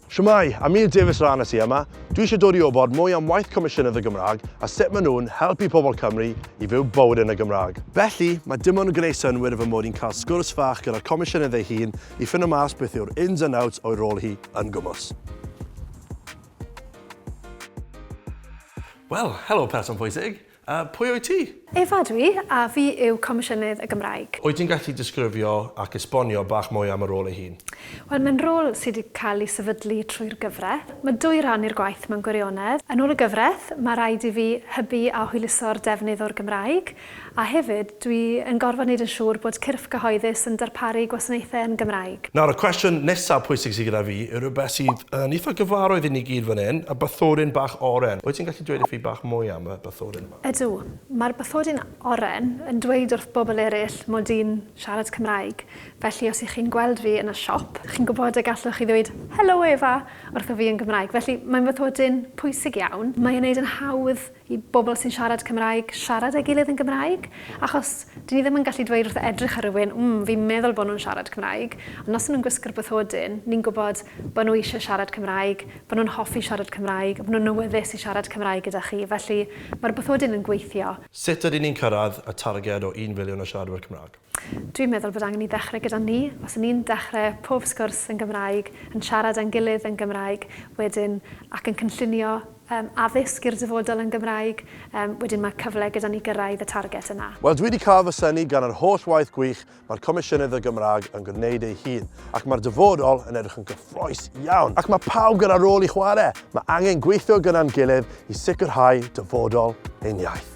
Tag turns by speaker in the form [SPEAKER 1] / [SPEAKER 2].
[SPEAKER 1] Shwmae! Amir Davies Rhan y ti yma. Dwi eisiau dod i wybod mwy am waith Comisiynydd y Gymraeg a sut maen nhw'n helpu pobl Cymru i fyw bywyd yn y Gymraeg. Felly, mae dim ond yn gwneud synnwyr fy mod i'n cael sgwrs fach gyda'r Comisiynydd ei hun i ffindo mas beth yw'r ins and outs o'i rôl hi yn gwmws. Wel, helo person pwysig! A pwy wyt ti? Efa ydw i, a fi yw Comisiynydd y Gymraeg. Wyt ti'n gallu disgrifio ac esbonio bach mwy am y rôl ei hun? Wel, mae'n rôl sydd wedi cael ei sefydlu trwy'r gyfraith. Mae dwy ran i'r gwaith mewn gwirionedd. Yn ôl y gyfraith, mae rhaid i fi hybu a hwyluso'r defnydd o'r Gymraeg, a hefyd, Dwi yn gorfod neud yn siŵr bod cyrff cyhoeddus yn darparu gwasanaethau yn Gymraeg. Nawr, y cwestiwn nesa pwysig sy gyda fi yw rhywbeth sydd yn eitha gyfarwydd i ni gyd fan hyn, y bathodyn bach oren. Wyt ti'n gallu dweud wrthi bach mwy am y bathodyn yma? Ydw. Mae'r bathodyn oren yn dweud wrth bobl eraill mod i'n siarad Cymraeg. Felly, os y'ch chi'n gweld fi yn y siop, chi'n gwybod y gallwch chi ddweud 'Helo Eva' wrtho fi yn Gymraeg. Felly, mae'n fathodyn pwysig iawn. Mae e'n neud yn hawdd i bobl sy'n siarad Cymraeg siarad â'i gilydd yn Gymraeg, achos dyn ni ddim yn gallu dweud wrth edrych ar rywun, mm, fi'n meddwl bod nhw'n siarad Cymraeg, ond os 'y nhw'n gwisgo'r bathodyn, ni'n gwybod bod nhw eisiau siarad Cymraeg, bod nhw'n hoffi siarad Cymraeg, bod nhw'n awyddus i siarad Cymraeg gyda chi, felly mae'r bathodyn yn gweithio. Sut ydyn ni'n cyrraedd y targed o un filiwn o siaradwyr Cymraeg? Dwi'n meddwl bod angen i ddechrau gyda ni. Os 'yn ni'n dechrau pob sgwrs yn Gymraeg, yn siarad â'n gilydd yn Gymraeg, wedyn, ac yn cynllunio yym addysg i'r dyfodol yn Gymraeg, yym wedyn mae cyfle gyda ni gyrraedd y target yna. Wel, dwi 'di cael fy synnu gan yr holl waith gwych mae'r Comisiynydd y Gymraeg yn gwneud ei hun, ac mae'r dyfodol yn edrych yn gyffrous iawn. Ac mae pawb gyda rôl i chwarae. Mae angen gweithio gyda'n gilydd i sicrhau dyfodol ein iaith.